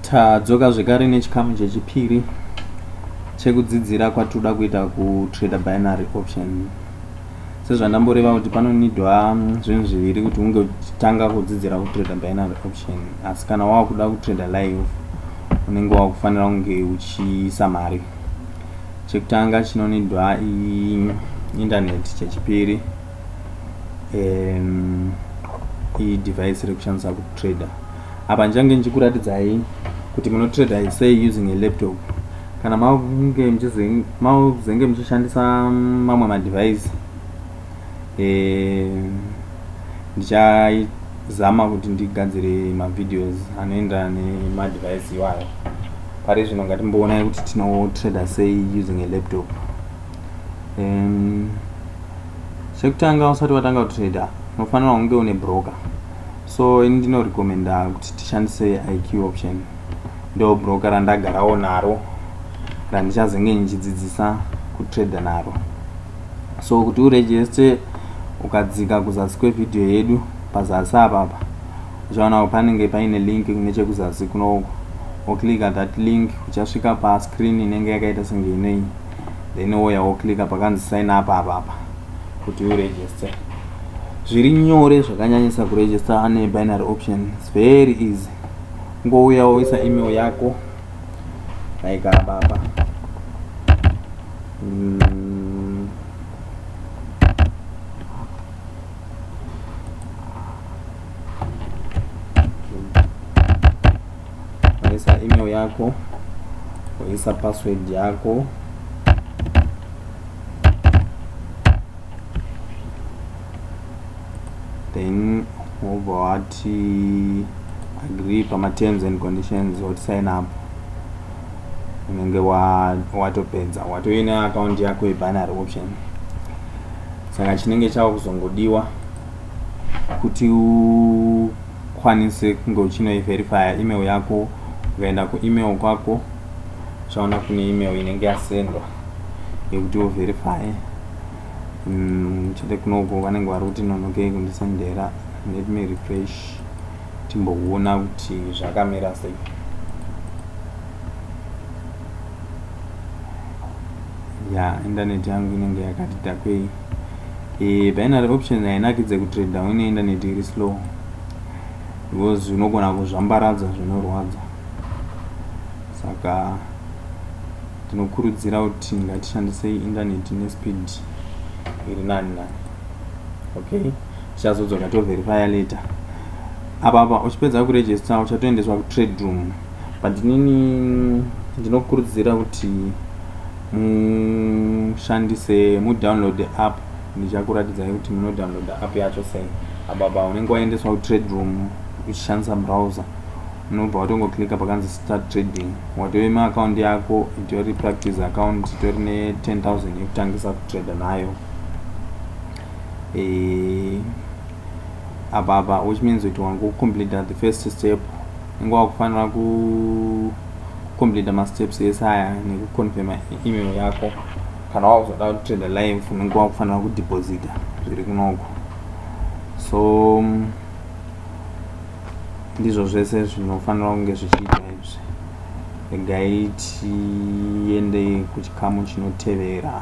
tadzoka zvekare nechikamu chechipiri chekudzidzira kwatinoda kuita kutrader binary option sezvandamboreva kuti panonidwa mm, zvinhu zviviri kuti unge uchitanga kudzidzira kutrader binary option asi kana wava kuda kutrader live unenge wava kufanira kunge uchiisa mari chekutanga chinonidwa internet chechipiri um, idevice rekushandisa kutrader Apa ndichange ndichikuratidzai kuti munotrader sei using a laptop kana makunge muzenge muchishandisa mamwe madevice eh, ndichazama kuti ndigadzire mavideos anoenderana nemadevice iwayo pari zvino ngatimboonai kuti tinotrader sei using a laptop um, chekutanga usati watanga kutrader unofanira kunge une broker So ini ndino recommenda kuti tishandise IQ option. Ndo broker randagarawo naro randichazenge ndichidzidzisa kutrader naro. So kuti uregister ukadzika kuzasi kwevideo yedu pazasi apapa uchaonawo panenge paine link nechekuzasi kunoko woclicka that link uchasvika pascreen inenge yakaita senge inoiyi then woya woclicka pakanzi sign up apapa kuti uregister zviri nyore zvakanyanyisa kuregister ane binary option its very easy ngouya woisa email yako like apa apa mm. waisa email yako waisa password yako then wobva wati agree pamaterms and conditions woti sign up unenge watopedza watoina akaunti yako yebinary option saka chinenge chava kuzongodiwa kuti haukwanise kunge uchinoiverifya email yako ukaenda kuemail kwako uchaona kune email inenge yasendwa yekuti uverifye mm, chete kunoko vanenge vari kuti nonokei kundisendera let me refresh timboona kuti zvakamira sei ya yeah, indaneti yangu inenge yakati dakwei eh, binary options hainakidze kutrader une internet iri slow because unogona kuzvambaradza zvinorwadza saka tinokurudzira kuti ngatishandise internet nespeed iri nani nani okay tichazodzoka toverifya later apa apa uchipedza kuregister uchatoendeswa kutrade room but inini ndinokurudzira kuti mushandise mudownload app ndichakuratidzai kuti munodownload app yacho sei apa pa unenge waendeswa kutrade room uchishandisa browser unobva watongoclicka pakanzi start trading watove maakaundi yako itori practice account itori ne 10000 yekutangisa kutrade nayo eh, apa apa which means kuti wangu complete the first step inge wakufanira ku complete masteps ese aya nekuconfirma email yako kana wakuzoda kutrade live unenge wakufanira kudeposita zviri kunoko so mm, ndizvo zvese zvinofanira kunge zvichiita izvi regai tiende kuchikamu chinotevera